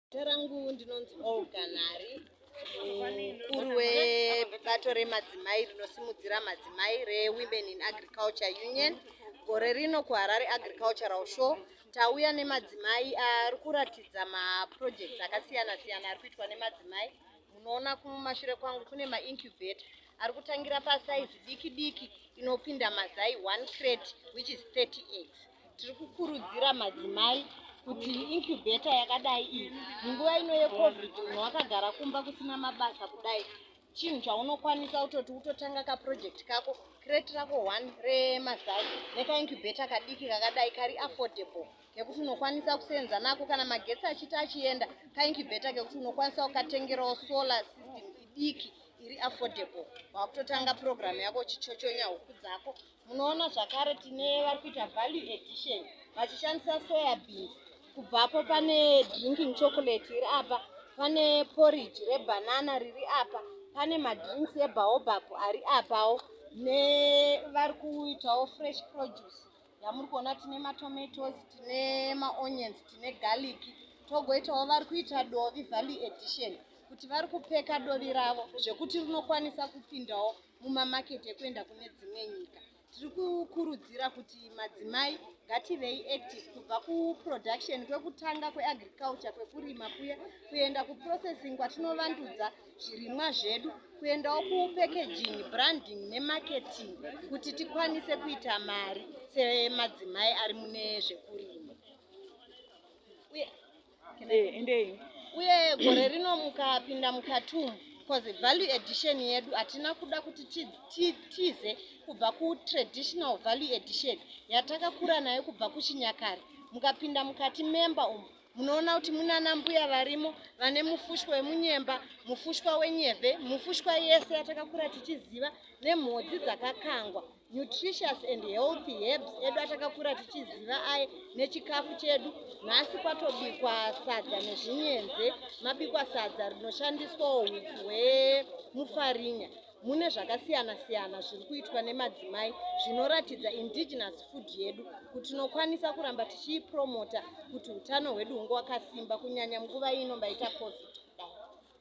Zita rangu ndinonzi Olga Nhari, mukuru webato remadzimai rinosimudzira madzimai reWomen in Agriculture Union. Gore rino kuHarare Agricultural Show tauya nemadzimai ari kuratidza maprojects akasiyana siyana ari kuitwa nemadzimai. Munoona kumashure kwangu kune maincubator ari kutangira pasaizi diki diki inopinda mazai 1 crate which is 30 eggs. tiri kukurudzira madzimai kuti incubator yakadai iyi munguva ino yecovid munhu wakagara kumba kusina mabasa kudai chinhu chaunokwanisa utoti utotanga kaproject kako crate rako one remazai nekaincubator kadiki kakadai kari affordable kekuti unokwanisa kuseenza nako kana magetsi achiti achienda kaincubator kekuti unokwanisa kukatengerawo solar system idiki iri affordable wakutotanga program yako uchichochonya huku dzako Munoona zvakare tine vari kuita value edition vachishandisa soya beans. Kubvapo pane drinking chocolate iri apa, pane porridge rebanana riri apa, pane madrinks ebaobab ari apawo nevari kuitawo fresh produce yamuri kuona tine matomatoes tine maonions tine garlic togoitawo vari kuita dovi valley edition kuti vari kupeka dovi ravo zvekuti rinokwanisa kupindawo mumamaketi ekuenda kune dzimwe nyika tiri kukurudzira kuti madzimai ngativei active kubva kuproduction kwekutanga kweagriculture kwekurima kuya kuenda kuprocessing kwatinovandudza zvirimwa zvedu kuendawo kupacaging branding nemarketing kuti tikwanise kuita mari semadzimai ari mune zvekurima uye eh, endei uye gore rino mukapinda mukatum because value edition yedu hatina kuda kuti tize kubva kutraditional value edition yatakakura nayo kubva kuchinyakare mukapinda mukati member umu munoona kuti munana mbuya varimo vane mufushwa wemunyemba mufushwa wenyeve mufushwa yese yatakakura tichiziva nemhodzi dzakakangwa nutritious and healthy herbs edu atakakura tichiziva aye nechikafu chedu nhasi kwatobikwa sadza nezvinyenze mabikwa sadza rinoshandiswawo huku hwemufarinya mune zvakasiyana siyana zviri kuitwa nemadzimai zvinoratidza indigenous food yedu kuti tinokwanisa kuramba tichiipromota kuti utano hwedu hunge hwakasimba kunyanya nguva ino mbaita covid